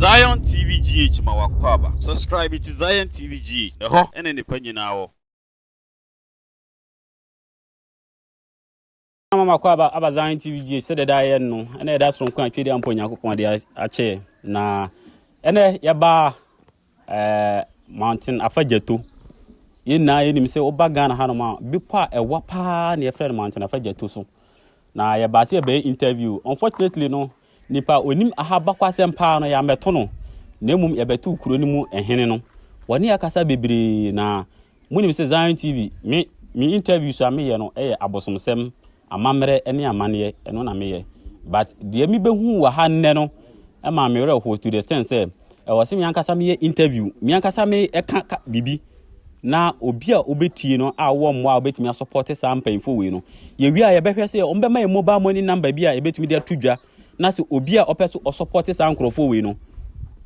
Zion TV GH ma wakɔ aba. Subscribe to Zion TV GH. Ɛhɔ ɛne nnipa nyinaa wɔ. na mama kɔ aba aba zan tv gye sɛ dɛda yɛ no ɛna ɛda soronko a twɛdi ampa onyankopɔn de akyɛ na ɛnɛ yɛba ɛɛ mountain afa gyato yɛn nyinaa yɛnim sɛ woba ghana hanom a bepɔ a ɛwa paa na yɛfrɛ no mountain afa gyato so na yɛbaa sɛ yɛbɛyɛ interview unfortunately no Nipa a onim aha bakwasɛm paa no, yɛammɛto no, na mmom yɛbɛtoo kuro no mu hene no. Wɔne yɛn kasa bebree, na monim sɛ Zion TV, me, me interviews a meyɛ no yɛ abosomsɛm, amammerɛ ne amanneɛ, ɛno na meyɛ. But deɛ mebɛhuu wɔ ha nnɛ no maa me werɛ ho to the extent sɛ, Ɛwɔ sɛ me ankasa meyɛ interview, me ankasa meka ka biribi na obi a wobɛtie no a wowɔ mmoa a wobɛtumi asɔpɔte saa mpanyimfoɔ wei no. Yɛwie a yɛbɛhwɛ sɛ wɔbɛma yɛ mobile money number bi a yɛbɛtumi de ato dwa na sɛ obi a ɔpɛ so ɔsɔpɔte saa nkurɔfoɔ wei no,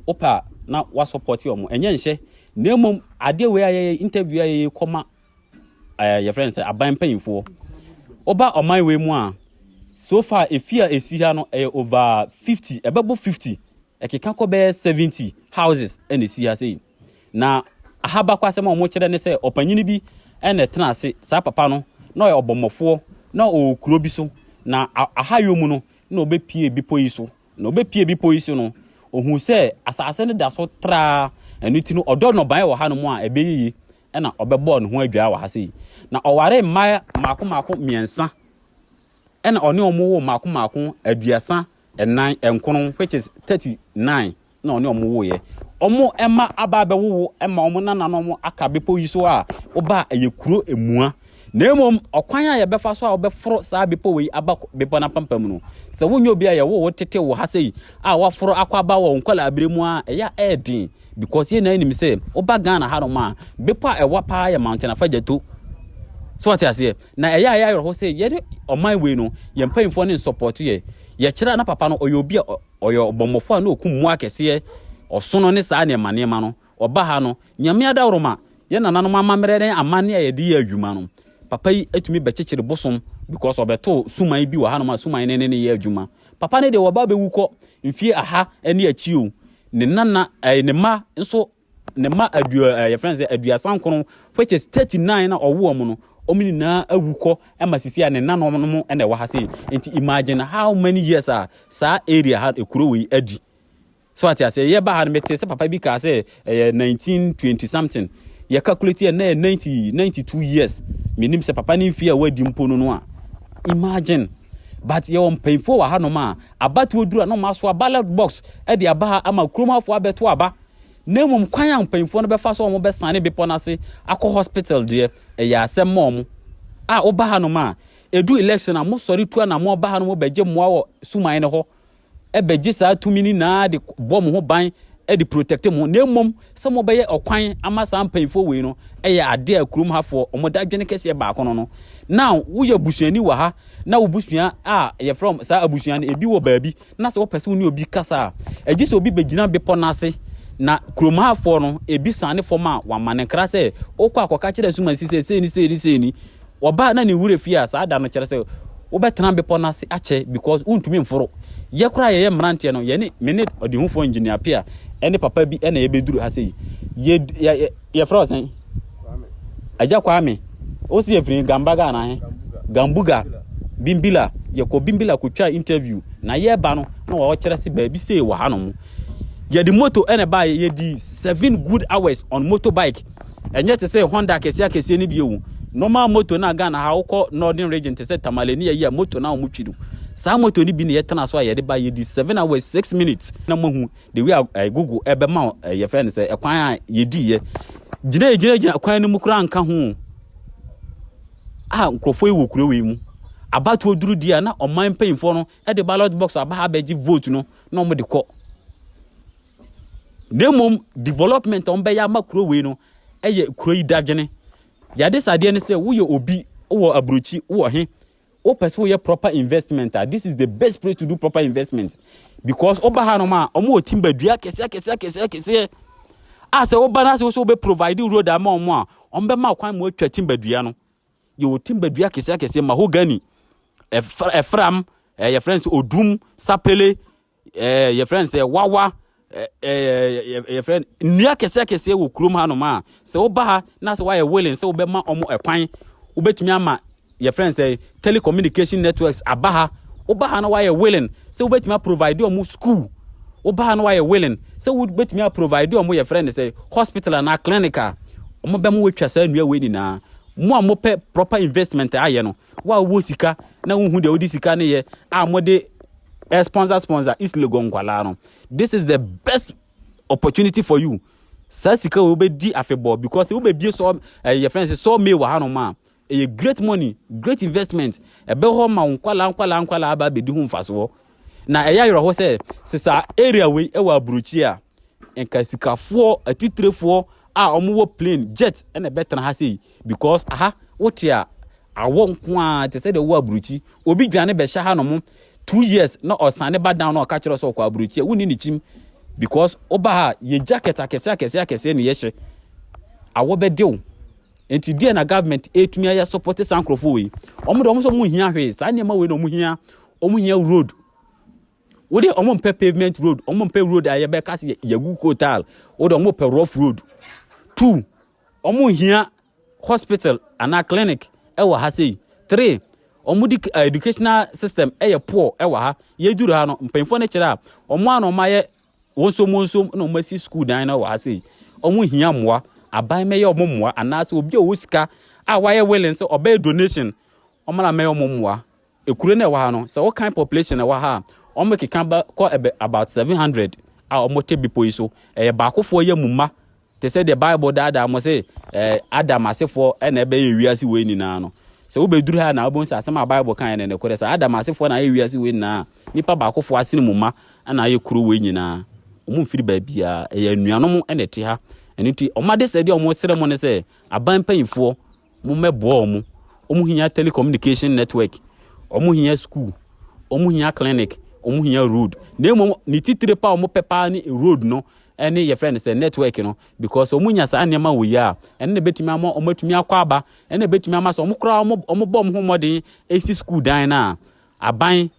wopɛ a na wasɔpɔte wɔn. Ɛnyɛ nhyɛ, na mmom adeɛ wei a yɛyɛ interview a yɛyɛ kɔma yɛfrɛ no sɛ aban mpanyimfoɔ woba ɔman wei mu a so far efi a esi ha no ɛyɛ over fifty ɛbɛbɔ fifty ɛkeka kɔ bɛyɛ seventy houses ɛna esi ha sei na ahabakɔ asɛm a wɔn kyerɛ ne sɛ ɔpanyin bi ɛna ɛtena ase saa papa no na ɔyɛ ɔbɔmmɔfoɔ na ɔwɔ kuro bi so na aha yɛ mu no na ɔbɛpie bepɔ yi so na ɔbɛpie bepɔ yi so no ohun sɛ asase no da so traa ɛno ti no ɔdɔ nnɔbaeɛ wɔ ha no mu a ɛbɛyɛ yie na ɔbɛbɔɔ ne ho adwaa wɔ ha sei. Na ɔwaree mma mmaako mmaako mmiɛnsa, ɛna ɔne wɔn woo mmaako mmaako aduasa nnan nkron, which is thirty nine, na ɔne wɔn woeɛ. Wɔn mma aba abɛwowo ma wɔn nananom aka bepɔ yi so a wobaa ɛyɛ kuro mua, Na mmom ɔkwan a yɛbɛfa so a wobɛforo saa bepɔw yi aba bepɔw no apampam no, sɛ wonyɛ obi a yɛwoo wo tete wɔ ha sɛ yi a woaforo akɔ aba wɔ wo nkwadaa-bere mu a, ɛyɛ a ɛyɛ den because yɛn nyinaa nim sɛ woba Ghana hanom a, bepɔw a ɛwa paa yɛ Mountain Afadjato. So wate aseɛ? Na ɛyɛ a ɛyɛ ayerɛho sɛ yɛne ɔman wei no, yɛn mpanyimfoɔ no nsɔpɔto yɛ. Yɛkyerɛ a na papa no ɔyɛ obi a ɔyɛ ɔbɔmmɔfo a na okum mmoa akɛseɛ, ɔsono ne saa nneɛma nneɛma no. Ɔba ha no, Nyame adaworoma, yɛn nananom amammerɛ ne amanne a yɛde yɛ adwuma no, papa yi tumi bɛkyekyere bosom because ɔbɛtoo suman bi wɔ hanom a suman no ne no yɛ adwuma. Papa no deɛ wɔba abɛwu kɔ mfie aha ne akyi o. Ne nana, eh, ne mma nso, ne mma adu, eh, yɛfrɛ no sɛ aduasa nkron, which is 39 na ɔwo wɔn no, wɔn nyinaa awu kɔ ma sisi a ne nananom no na ɛwɔ ha sei. Nti imagine how many years a saa area ha, ekuro wei adi. So wate aseɛ? Yɛ ba ha no mete sɛ papa bi kaa sɛ ɛyɛ 1920 something. Yɛ calculate yɛ na yɛ 90 92 years. Menim sɛ papa ne mfie a wadi mpo no no a. Imagine. But yɛ wɔ mpanyinfoɔ wɔ ha nom a abatoɔ duru a na wɔn asoa ballot box ɛde aba ha ama kurom afoɔ abɛto aba. Na mmom kwan a mpanyinfoɔ no bɛfa so a wɔn bɛsane bepɔ no ase akɔ hospital deɛ ɛyɛ asɛm ma wɔn. A woba ha nom a edu election a mosɔre tu anamɔ ba ha nom bɛgye mmoa wɔ suman no hɔ bɛgye saa tumi no nyinaa de bɔ mo ho ban de protect mo na mmom sɛ mobɛyɛ ɔkwan ama saa mpanyinfoɔ wei no ɛyɛ adeɛ a kurom hafoɔ wɔn da adwene kɛseɛ baako no no na woyɛ busuani wɔ ha na wo busua a yɛfrɛ saa abusua no ebi wɔ baabi na sɛ wɔpɛ sɛ wo ne obi kasa a ɛgye sɛ obi bɛgyina bepɔ no ase na kurom hafoɔ no ebi sane fam a wɔama ne nkra sɛ wokɔ akɔka kyerɛ so ma si sɛ sei ne sei ne sei ni Wɔba na ne wura fie a saa da no kyerɛ sɛ wobɛtena bepɔ no ase akyɛ because wontumi mforo. Yɛ koraa yɛyɛ mmeranteɛ no, yɛne me ne ɔdehufoɔ engineer Pia ne papa bi na yɛbɛduru ha sɛ yi. Yɛ, yɛ, yɛ, yɛfrɛ wo sɛn? Agya Kwame. Wo se yɛfiri Gambaga anaa he? Gambuga. Bimbila. Yɛkɔ Bimbila kɔtwaa interview. Na yɛba no, na wɔkyerɛ se baabi sei wɔ hanom. Yɛde moto na ɛbaeɛ, yɛdi seven good hours on motorbike. Ɛnyɛ te sɛ Honda akɛseɛ akɛseɛ no bio. Normal moto no a Ghana ha wokɔ northern region te sɛ Tamale ne ayi a moto no a wɔtwi no. Saa moto no bi na yɛtena so a yɛde ba yɛdi seven hours six minutes. Na moahu the way a eh, Google ɛbɛma eh, yɛfrɛ no sɛ ɛkwan a yɛdiiɛ. Gyina gyina gyina kwan no mu koraa nka ho a nkurɔfoɔ yi wɔ kuro wei mu. Abatoɔ duru di a na ɔman mpanyinfoɔ no de ballot box aba ha abɛgye vote no na wɔde kɔ. na mmom development a wɔbɛyɛ ama kuro wei no yɛ kuro yi dadwene yɛde sadeɛ no sɛ woyɛ obi wɔ aburokyi wɔ he wopɛ sɛ woyɛ proper investment a this is the best place to do proper investment because woba ha nom a wɔn wɔ timba dua kɛseɛ kɛseɛ kɛseɛ kɛseɛ a sɛ woba no ase wo sɛ wobɛ provide road ama wɔn a wɔn bɛma kwan ma wɔatwa timba dua no yɛwɔ timba dua kɛseɛ kɛseɛ mahogany ɛfram ɛyɛ frɛ no sɛ odum sapele ɛɛ yɛfrɛ no sɛ wawa ɛɛ yɛfrɛ no nnua kɛseɛ kɛseɛ wɔ kurom ha nom a sɛ woba ha na sɛ woayɛ willing sɛ wobɛma ɔmo ɛkwan wobɛtumi ama yɛfrɛ no sɛ telecommunication networks aba ha woba ha na woayɛ willing sɛ wobɛtumi aprovide ɔmo school woba ha na woayɛ willing sɛ wobɛtumi aprovide ɔmo yɛfrɛ no sɛ hospital anaa clinic a ɔmo bɛma wɔatwa saa nnua wei nyinaa mo a mopɛ proper investment ayɛ no Wo a wowɔ sika na wonhu deɛ wode sika no yɛ a mode eh, sponsor sponsor East Legon nkwalaa no. This is the best opportunity for you. Saa sika wɔ wobɛdi afebɔɔ because wobɛbie sɔ eh, yɛ friends sɔ mee wɔ hanom a ɛyɛ great money, great investment. Ɛbɛ hɔ ma wo nkwalaa nkwalaa nkwalaa aba abɛdi ho mfasoɔ. Na ɛyɛ ayerɛho sɛ sɛ saa area wei ɛwɔ aburokyi a Nka sikafoɔ atitirifoɔ a wɔwɔ plane jet na ɛbɛtena ha sei because aha wote a awɔ nko a te sɛ deɛ wɔ aburokyi obi dwane bɛhyɛ ha nom two years na ɔsan ne ba down na ɔka kyerɛ sɛ ɔkɔ aburokyi a wonni ne kyim because woba ha yɛ jacket akɛseɛ akɛseɛ akɛseɛ na yɛhyɛ awɔ bɛde wo nti deɛ na government ɛtumi ayɛ support saa nkurɔfoɔ wei wɔn de wɔn sɛ wɔn hia hwee saa nneɛma wei na wɔn hia wɔn hia road wo de ɔmo mpɛ pavement road ɔmo mpɛ road a yɛbɛka se yɛgu kotal wo de ɔmo pɛ rough road two ɔmo hia hospital anaa clinic ɛwɔ ha sei three ɔmo di eh, educational system ɛyɛ poor ɛwɔ ha yɛduru ha no mpanyinfoɔ no kyerɛ a ɔmo a na ɔmo ayɛ wɔnsom wɔnsom na ɔmo asi sukuu dan no ɛwɔ ha sei ɔmo hia mmoa aban mɛyɛ ɔmo mmoa anaasɛ obi a ɔwɔ sika a wayɛ willing sɛ ɔbɛyɛ donation ɔmo na mɛyɛ ɔmo mmoa Ekuro no a ɛwɔ ha no, sɛ wokan population a ɛwɔ ha a, wɔkeka ba kɔ ɛbɛ about seven hundred a wɔte bepɔ yi so. Ɛyɛ baakofoɔ yɛ mu mma, te sɛ deɛ Bible daadaa mo se ɛɛ Adam asefoɔ ɛna ɛbɛyɛ wiase wei nyinaa no. Sɛ wobɛduru ha na wobɛhu sɛ asɛm a Bible kaeɛ no nokorɛ. Sɛ Adam asefoɔ na ayɛ wiase wei nyinaa a, nnipa baakofoɔ asene mu mma ɛna ayɛ kuro wei nyinaa. Wɔn mfiri baabiara. Ɛyɛ anuanom ɛna ɛte ha. Ɛno nti, wɔn adesrɛdeɛ a wɔsrɛ mo ne sɛ, aban mpanyinfoɔ, Mommɛboa wɔn. Wɔhia telecommunication network, wɔhia school, wɔhia clinic, wɔhia road. Na mmom ne titire pa a wɔpɛ paa ne road no ne yɛfrɛ no sɛ network no because wɔnya saa nneɛma wɔ yi a ɛno na ɛbɛtumi ama wɔatumi akɔ aba ɛna ɛbɛtumi ama sɛ wɔn koraa wɔbɔ wɔn ho mmɔden ɛsi school dan no a aban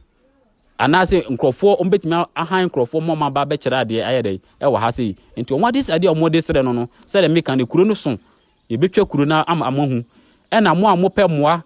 anaasɛ nkurɔfoɔ wɔn bɛtumi ahan nkurɔfoɔ ma wɔn aba abɛkyerɛ adeɛ ayɛ dɛ ɛwɔ ha sei nti wɔn ade sɛ adeɛ a wɔde srɛ no no sɛdeɛ meka no kuro no so Yɛbɛtwa kuro no ama moahu. Ɛna mo a mopɛ mmoa,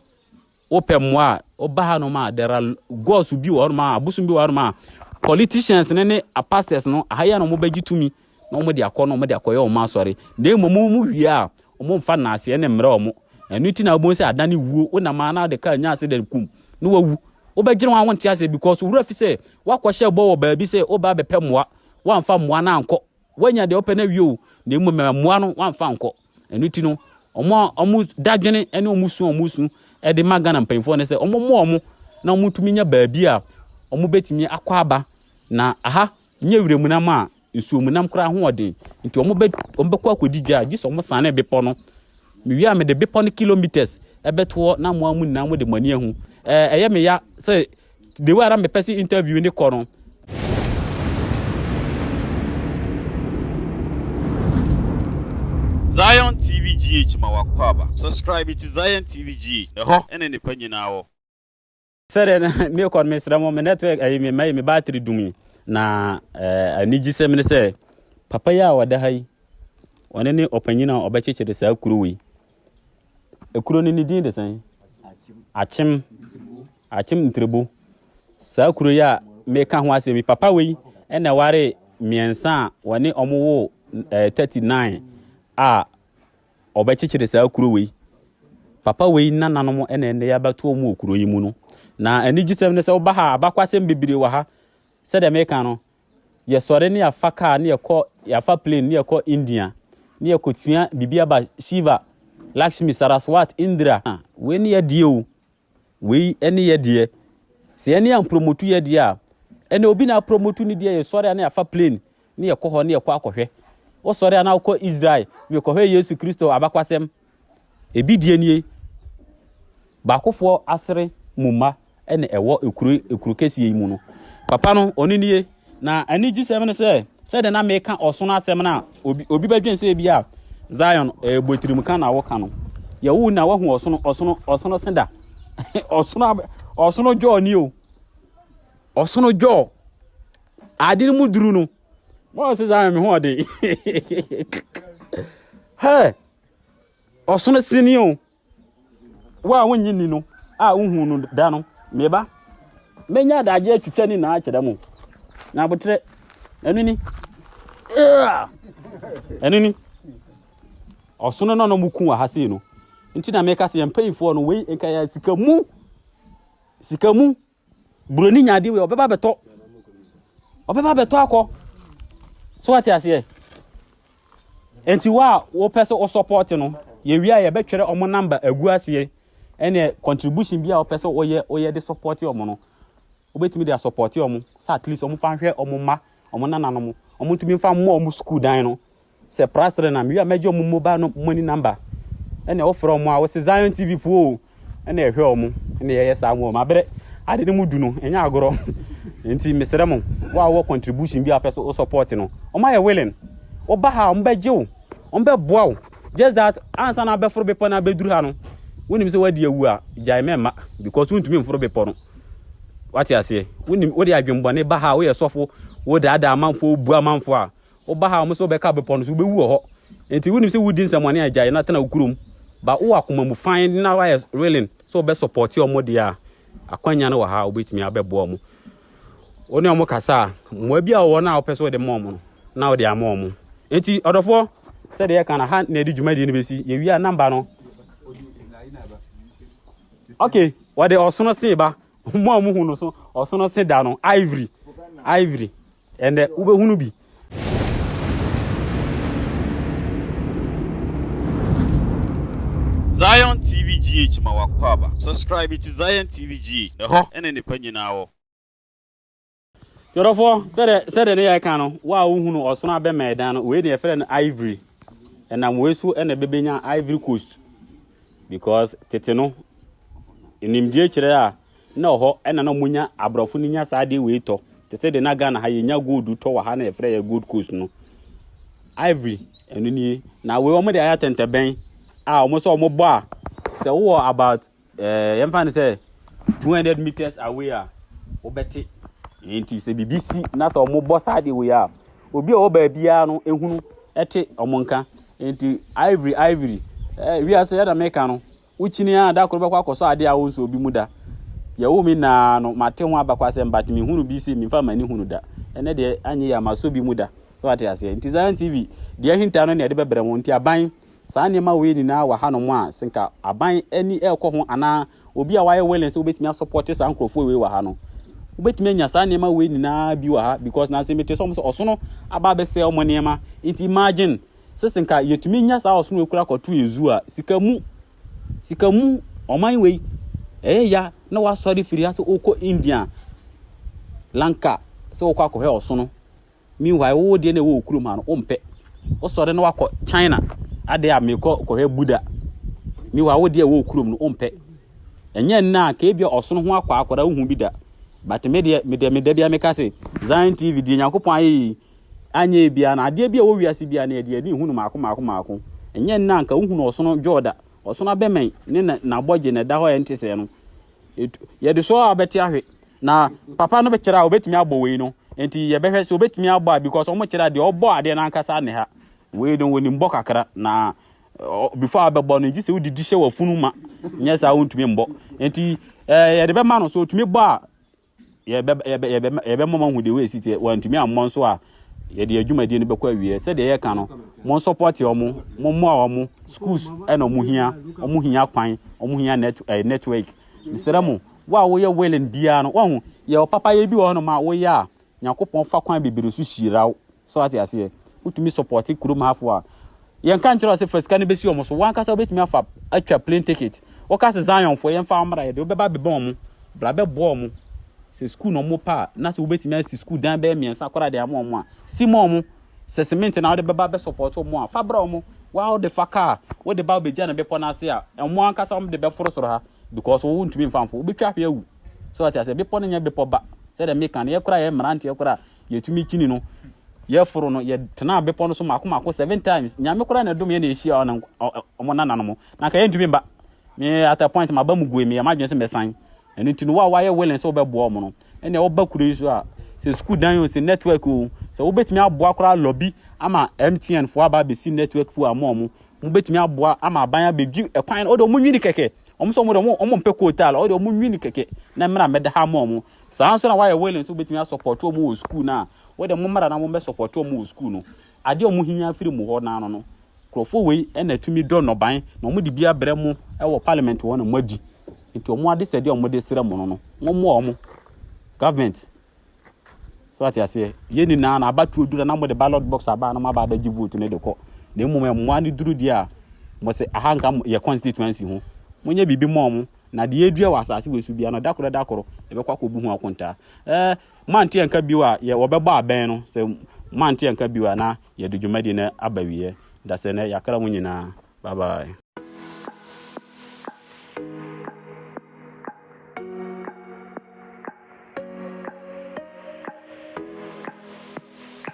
wopɛ mmoa a, woba ha nom a, there are gods bi wɔ hɔ nom a, abosom bi wɔ hɔ nom a, politicians no ne pastors no, aha yɛ na wɔbɛgye tumi na wɔde akɔ no, wɔde akɔyɛ wɔn asɔre. Na mmom mo mu wie a, wɔn mfa naaseɛ ne mmerɛ wɔn. Ɛno nti na wɔbɛhu sɛ adan ne wuo, wonam a na wode kaa nya ase dɛn kum, na wawu. Wobɛdwene ho a wonte aseɛ because wura fi sɛ wakɔhyɛ bɔ wɔ baabi sɛ wobaa bɛpɛ mmoa, wamfa mmoa no ankɔ, Wanya deɛ ɔpɛ no awie o, na mmom mmoa no wamfa nkɔ. Ɛno ti no, wɔn a wɔn dadwene ne wɔn su a wɔn su de ma Ghana mpanyinfoɔ no sɛ wɔn mmoa wɔn na wɔn tumi nya baabi a wɔn betumi akɔ aba na aha nyɛ wiram nam a nsuom nam koraa ho ɔden nti wɔn bɛ wɔn bɛkɔ akɔdi dwa a gye sɛ wɔn sane bepɔ no mewie a mede bepɔ no kilometers ɛbɛtoɔ na mmoa mu nyinaa mo de mo ani ahu ɛɛ ɛyɛ me ya sɛ the way ara mepɛ sɛ interview ne kɔ no Zion TV GH ma wakɔ aba. Subscribe to Zion TV GH. Ɛhɔ ɛna nipa nyinaa wɔ. sɛdeɛ na mekɔ no mesrɛ mo me network ayi me mayi me battery dumi na eh, anigyesɛm ne sɛ papa yi a ɔda ha yi ɔne ne ɔpanyin a ɔbɛkyekyere saa kuro wei ekuro no ne din de sɛn akyem Akyem Ntrebo, Saa kuro yi a meka ho asem yi, papa wei na ɛwaree mmiɛnsa a wɔne wɔn woo ɛɛ 39 a wɔbɛkyekyere saa kuro wei. Papa wei nananom na ɛnɛ yɛabɛto wɔn wɔ kuro yi mu no. Na anigyesɛm ne sɛ woba ha a, abakwasɛm bebree wɔ ha. Sɛdeɛ meka no, yɛsɔre ne yɛafa kaa ne yɛkɔ, yɛafa plane ne yɛkɔ India ne yɛkɔtua biribi aba Shiva, Lakshmi, Saraswat, Indra. Wei ne yɛdeɛ o. Wei ne yɛ deɛ. Sɛ yɛn ne ampromotu yɛ deɛ a, ɛnna obi na apromotu ne deɛ yɛ sɔre a na yɛafa plane ne yɛkɔ hɔ ne yɛkɔ akɔhwɛ. Wo sɔre a na wokɔ Israel mekɔhwɛ Yesu Kristo abakwasɛm. Ebi deɛ nie. Baakofoɔ asere mu mma ɛna ɛwɔ ekuro ekuro kɛseɛ yi mu no. Papa no ɔno nie. Na anigyesɛm ne sɛ sɛdeɛ na meka ɔsono asɛm no a obi obi bɛdwen sɛ ebi a Zion ɛbɔ eh, tirim ka na woka no yɛwo na wahu ɔsono ɔsono ɔsono senda ɔsono ɔsono dwɔɔ ni o ɔsono dwɔɔ ade no mu duru no wɔn sɛ Zion me ho ɔden hɛ ɔsono sini o Wo a wonnye nni no a wohuu no da no, me ba, mɛnya adagye atwitwa ne nyinaa akyerɛ mo. Na aboterɛ, ɛno ni. Ɛno ni. Ɔsono no na wɔku wɔ ha sei no. Nti na meka sɛ yɛn mpayifoɔ no wei nka yɛ sika mu. Sika mu. Buroni nya adeɛ wei ɔbɛba abɛtɔ ɔbɛba abɛtɔ akɔ so wate aseɛ nti wo a wopɛ sɛ wosɔpɔɔte no yɛwie a yɛbɛtwerɛ ɔmo namba agu aseɛ ɛne contribution bi a wopɛ sɛ woyɛ woyɛ de sɔpɔɔte ɔmo no wobɛtumi de asɔpɔɔte ɔmo sɛ at least ɔmo fa nhwɛ ɔmo mma ɔmo nananom ɔmo ntumi mfa mmɔ ɔmo sukuu dan no Sɛ prasrɛ na mewie a mɛgye ɔmo mobile no mo ani namba ɛna wofrɛ ɔmo a wose Zion TV foɔ o ɛna ɛhwɛ ɔmo ɛna yɛyɛ saa mo ɔmo abrɛ ade no mu du no ɛnyɛ agorɔ nti mesrɛ mo wo a wɔ contribution bi a pɛ so o support no ɔmo ayɛ willing woba ha ɔmo bɛgye wo ɔmo bɛboa wo just that ansa na abɛforo bepɔ na abɛduru ha no wonim sɛ wadi awu a gyae mɛmma because wontumi mforo bepɔ no wate aseɛ wonim wode adwembɔne ba ha woyɛ sɔfo wodaadaa amanfoɔ wobu amanfoɔ a Woba ha a, wɔse wobɛka bepɔ no so, wubewu wɔ hɔ. Enti wunim sɛ wudi nsɛmmɔne a, gyae na tena wo kurom. Ba wowɔ akoma mu fann na woayɛ willing sɛ wobɛ supporte wɔn deɛ a, akwanya no wɔ ha a wobetumi abɛboa wɔn. Wo ne wɔn kasa a, mmoa bi a wɔwɔ no a wopɛ sɛ wode ma wɔn no, na wode ama wɔn. Enti ɔdɔfoɔ, sɛdeɛ yɛka no, ha na yɛde dwumadie no besi. Yɛwie a, number no. Okay, wɔde ɔsono se ba. Mo a muhu no so, ɔsono se da no, ivory, ivory. Ɛnɛ wobɛhunu bi. Zion TV GH ma w'akwaaba. Subscribe to Zion TV GH. Ɛhɔ na nnepa nyinaa wɔ. Twerɛfoɔ, sɛdeɛ sɛdeɛ ne yɛka no, wo a wohunu ɔsono abɛma ɛdan no, wei ne yɛfrɛ no ivory. Ɛnam wei so na ɛbɛbɛnya ivory coast because tete no nimdeɛ kyerɛ a na ɔhɔ ɛna na ɔmo nya aborɔfo no nya saa adeɛ wei tɔ te sɛ de na Ghana ha yɛnya gold tɔ wɔ ha na yɛfrɛ yɛ gold coast no ivory ɛno nie na wei ɔmo de ayɛ atɛntɛbɛn a ɔmo sɛ ɔmo bɔ a sɛ wowɔ about ɛɛ eh, yɛmfa no sɛ 200 meters away a wobɛte nti sɛ biribi si na sɛ ɔmo bɔ saa adeɛ wei a obi a ɔwɔ baabiara no ehunu ɛte ɔmo nka nti ivory ivory ɛɛ eh, wiase yɛ na meka no Wokyini ara da koro bɛkɔ akɔsɔ ade a wonsɔɔ bi mu da. Yɛwoo me nna ara no, mate ho abakɔasɛm but menhunu bi se memfa m'ani hunu da. Ɛnnɛ deɛ anyɛ yie a masɔ bi mu da. Sɛ wate aseɛ? Nti Zion TV, deɛ ahinta no na yɛde bɛbrɛ mo. Nti aban, saa nneɛma wei nyinaa wɔ hanom a, sɛ nka aban ani rekɔ ho anaa obi a wayɛ willing sɛ wobɛtumi asɔpɔte saa nkurɔfoɔ wei wɔ ha no, wobɛtumi anya saa nneɛma wei nyinaa bi wɔ ha because na se mete sɛ wɔn sɛ ɔsono aba abɛsɛe wɔn nneɛma. Nti imagine! Sese nka yɛtumi nya saa ɔsono wei kora kɔto yɛ zoo a sika mu sika mu ɔman wei ɛyɛ ya na wasɔre firi ha sɛ wokɔ India lanka sɛ wokɔ akɔhwɛ ɔsono meanwhile wowɔ deɛ na ɛwɔ okurom ha no wompɛ wosɔre na wakɔ China adeɛ a mekɔ kɔhwɛ Buddha meanwhile wo deɛ ɛwɔ okurom no wompɛ ɛnyɛ nna a kɛɛ bia ɔsono ho akɔ akɔda wohu bi da but me deɛ me deɛ me da bia meka se Zion TV deɛ Nyankopɔn ayɛ yi anyɛ ebiara no, adeɛ bi a ɛwɔ wiase biara no, yɛde ani hunu mmaako mmaako mmaako. Ɛnyɛ nnɛ a anka wohunu ɔsono dwɔɔ da. Ɔsono abɛmɛn ne na, n'abɔgye na ɛda hɔ a ɛnte sɛɛ no, etu, yɛde so ara bɛte ahwe. Na papa no bɛkyerɛ a ɔbɛtumi abɔ wei no, nti yɛbɛhwɛ sɛ ɔbɛtumi abɔ a because ɔmo kyerɛ a deɛ ɔbɔ adeɛ no ankasa ne ha. Wei no wɔnim bɔ kakra na before abɛbɔ no nti sɛ wode di hyɛ wafunu ma nyɛ saa wontumi mbɔ nti eh, yɛde bɛma no so otumi bɔ a Yɛbɛ, yɛbɛ, yɛbɛ, yɛbɛma moahu deɛ wei si teɛ. Wɔantumi ammɔ nso a, yɛde adwumadie no bɛkɔ awieɛ. Sɛdeɛ yɛka no, mo nsɔpɔte wɔn, mo mmoa wɔn, schools ɛna wɔn hia, wɔn hia kwan, wɔn hia net, eh, network. Mesrɛ mo, wo a woyɛ willing biara no, wɔn ho, yɛ ɔpapayɛ bi wɔ hɔnom a woyɛ a, Nyankopɔn fa kwan bebree so hyira wo. So wate aseɛ? Wotumi support kurom hafo a. Yɛnka nkyerɛ wo sɛ fa sika no bɛsi wɔn so. Wankasa wobɛtumi afa atwa plane ticket. Woka sɛ Zionfoɔ yɛmfa wɔn mmra yɛ de, wobɛba abɛbɔ wɔn. Bra bɛboa wɔn. Sɛ sukuu na wɔpɛ a, na sɛ wobɛtumi asi sukuu dan bɛyɛ mmiɛnsa koraa de ama wɔn a, si ma wɔn. Sɛ cement na wode bɛba abɛsupport wɔn a, fa brɛ wɔn. Wo ara wode fa kaa, wode ba wobɛgya no bepɔ no ase a, wɔn ankasa wɔde bɛforo soro ha because wo wontumi mfa mforo. Wobɛtwa hwe awu. So wate aseɛ? Bepɔ no nyɛ bepɔ ba. Sɛdeɛ meka no, yɛ koraa yɛ mmeranteɛ koraa yɛtumi kyini no yɛforo no yɛtenaa bepɔ no so mako mako seven times nyame koraa na ɛdom yɛ na ɛhyia ɔne ɔmo nana no mo na nka yɛntumi mba me at a point maba mu goe meyɛ m'adwene sɛ mɛsan ɛno nti no wo a woayɛ willing sɛ wobɛboa ɔmo no ɛnea woba kuro yi so a sɛ sukuu dan o sɛ network o sɛ wobɛtumi aboa koraa lɔbi ama mtn foɔ aba abɛsi network foɔ ama ɔmo mobɛtumi aboa ama aban abɛdwi ɛkwan no ɔde ɔmo nwini kɛkɛ ɔmo sɛ ɔmo de ɔmo ɔmo mpɛ kootaal ɔde ɔmo nwini kɛkɛ na mmra mmɛda ha ama ɔmo Saa ara nso na wɔayɛ willing sɛ wobɛtumi asɔpɔte wɔn wɔ sukuu no a wode mommra na mommɛsɔpɔte wɔn wɔ sukuu no. Adeɛ a wɔhia afiri mo hɔ no ano no, nkurɔfoɔ wei na ɛtumi dɔ nnɔban na wɔde bi abrɛ mo wɔ parliament hɔ na moadi. Nti wɔn adesɛdeɛ a wɔde srɛ mo no no, mommoa wɔn. Government, so ate aseɛ, yɛ nyinaa na abatoɔ duru na mode ballot box aba na moaba abɛgye vote no de kɔ. Na mmom mmoa no duru deɛ a, mo se aha nka yɛ constituency ho. Monyɛ biribi mmɔ wɔn. Na deɛ ɛredua wɔ asase wei so biara no, da koro da koro, yɛbɛkɔ akɔbu ho akontaa. Ɛɛ, moante anka bio a, yɛ wɔbɛbɔ abɛn no. Sɛ moante anka bio a, na yɛde dwumadie no aba wieɛ. Da sɛ nɛ, yɛakra mo nyinaa. Bye bye.